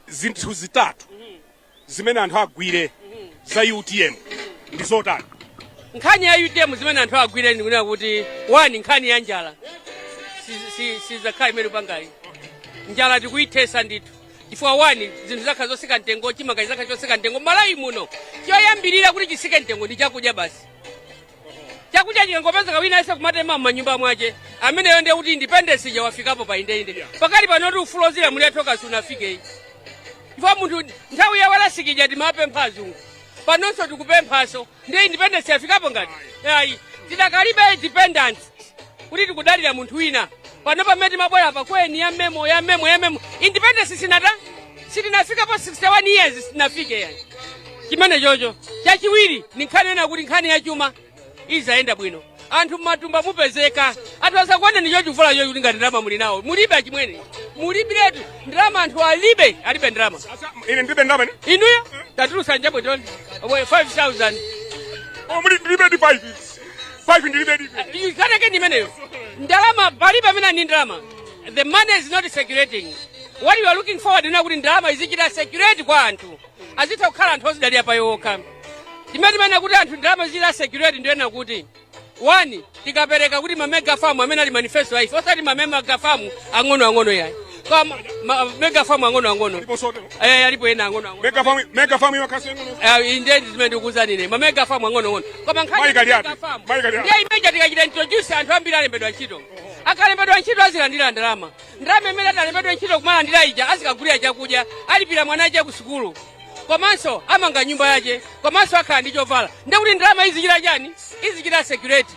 zinthu zitatu zimene anthu agwire za utm ndi zotani nkhani ya utm zimene anthu agwire ndikunena kuti wani nkhani ya njala sizakhala imene panga ayi njala tikuyithesa ndithu chifukwa wani zinthu zizakhala zosika mtengo chimanga chizakhala chosika mtengo malawi muno choyambirira kuti chisike mtengo ndi chakudya basi chakudya chikangopezeka wina yese kumatema m'manyumba mwache ameneyo ndiye kuti independence ija wafikapo pa indeinde pakati panoti ufulu ozilamulira tokha sunafike ayi chifukwa munthu nthawi ya walasikija timapempha azungu panonso tikupemphaso ndiye independence yafikapo ngati ayi tinakalibe independence kuti tikudalira munthu wina pano pamene timabwera pa kweni ya memo ya memo ya memo independence sinatha sitinafika pa 61 years sitinafike yani chimene chocho chachiwiri ni nkhani yonena kuti nkhani ya chuma izayenda bwino anthu mmatumba mupezeka anthu azakuoneni chivula chocho kulinga ndalama muli nawo mulibe achimwene mulibiretu ndalama anthu alibe alibe ndalama Asa- ine ndibe ndalama ine inuyo tatulusa njabwetoni 5000 Oh, muli ndibe ndi 5 5 ndilibe dibe nkhani yake ndimeneyo ndalama palibe amene ali ndi ndalama the money is not circulating what we are looking forward ndi kunena kuti ndalama izichita circulate kwa anthu azitha kukhala anthu ozidalira paokha zimene timanena kuti anthu ndalama izichita circulate ndikunena kuti one tikapereka kuti mamega famu amene ali manifesto a ife osati mamega famu ang'onoang'ono yayi kwa ma- ma- mega farm ang'ono ang'ono eh alipo ena ang'ono ang'ono mega farm mega farm iwa kasi ngono eh inde zimene ndikuuza ine ma mega farm ang'ono ang'ono koma nkhani Mayi kali ya ati? mega farm Mayi kali ya ati? ndiye imeja tikachita introduce anthu ambiri alembedwa ntchito akalembedwa ntchito azilandira ndalama ndalama imene atalembedwa ntchito kumalandira ija azikagulira chakudya alipirira mwana wache ku sukulu komanso amanga nyumba yache komanso akhala ndi chovala ndekuti ndalama izichita chani izichita circulate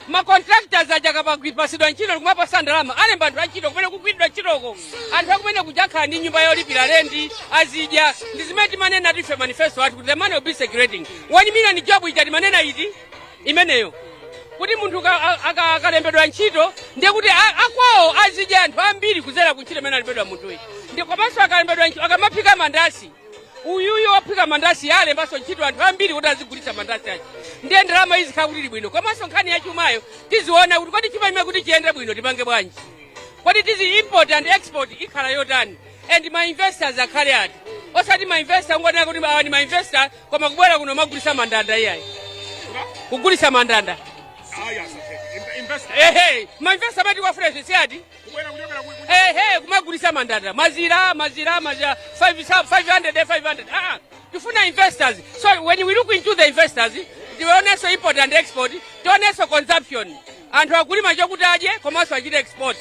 ma contractors aja akapasidwa ntchito ndikumapasa ndalama alemba anthu antchito kumene kugwiridwa ntchitoko anthu akumeneko aja akhala ndi nyumba yolipira lenti azidya ndi zimene timanena ife manifesto athu kuti the money will be circulating one million job ija timanena ndi imeneyo kuti munthu ka- a- aka- akalembedwa ntchito ndiye kuti a- akwawo azidya anthu ambiri kuzera ku ntchito imene alembedwa munthuyi ndi komanso akalembedwa ntchito akamaphika mandasi uyuyu ophika mandasi alembanso ntchito anthu ambiri kuti azigulitsa mandasi aja ndiye ndalama izikhala kuti ili bwino komanso nkhani ya chumayo tiziona kuti kodi chuma chimenechi kuti chiyende bwino tipange bwanji kodi tizi import and export ikhala yotani and ma investors akhale ati osati ma investor ongonena kuti awa ndi ma investor koma kubwera kuno kumagulisa mandanda iyayi kugulisa mandanda ehe ma investor amene tikuwafuna ife si ati Hey, hey, kumagulisa mandanda mazira mazira mazira 500 500 500 ah tifuna investors so when we look into the investors tionenso import and export tionenso consumption anthu akulima chokuti adye komanso achite export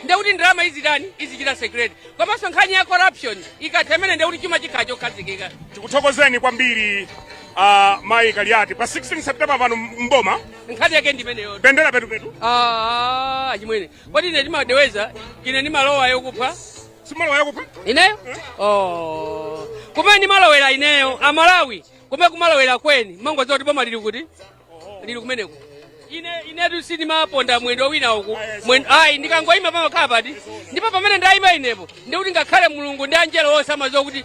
ndekuti ndalama izitani izichita circulate komanso nkhani ya corruption ikathemene ndekuti chuma chikhala chokhazikika tikuthokozeni kwambiri uh, mayi kaliati pa 16 september pano mboma nkhani yake ndi imeneyo pendera petupetu Ah, achimwene kodi ine ndimadeweza ine ndimalowa yokufa sindimalowa yakufa ineyo oh. kumene ndimalowera ineyo amalawi kumene ndimalowera ine mumangodziwa kuti boma lili kuti lili kumeneko ine inetu sindimaponda mwendo wina uku Mwen- ayi ndikangoyima pamakhala pati ndipo pamene ndayima inepo ndikuti ngakhale mulungu ndi angelo onse amadziwa kuti